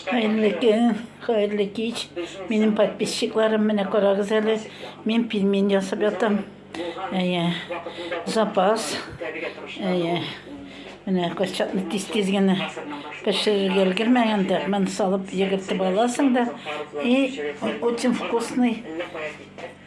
Хәерле көн, хәерле кич. Минем подписчикларым, менә карагыз әле. Мин пельмень ясап ятам. Әйе. Запас. Әйе. Менә курчакны тиз-тиз генә пешерергә өлгермәгән дә, мен салып йөгертеп аласың да. И очень вкусный.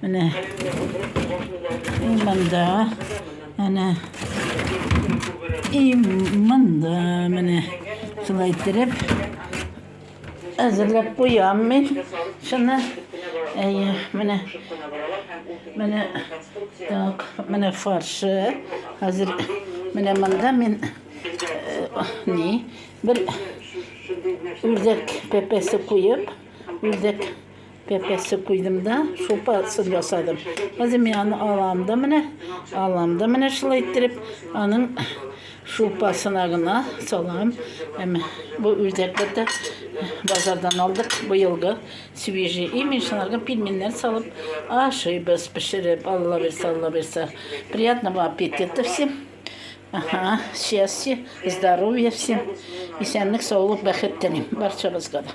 Менә и монда, әнә и монда, менә шулай иттереп әзерләп куям мин шуны. Әйе, менә менә так, менә фаршы. Хәзер менә монда мин э, ни бер үрдәк пепесе куеп, үрдәк Пәпәсе куйдым да, шулпа сыр ясадым. Хәзер мин аны алам да менә, алам да менә шулай иттереп, аның шулпасына гына салам. Әмма бу үрдәкләр дә базардан алдык. Быелгы свежий имишларга пельменнәр салып ашыйбыз, пешереп, Алла бирсә, Алла бирсә. Приятного аппетита всем. Ага, счастья, здоровья всем. Исәнлек, саулык, бәхет телим барчабызга да.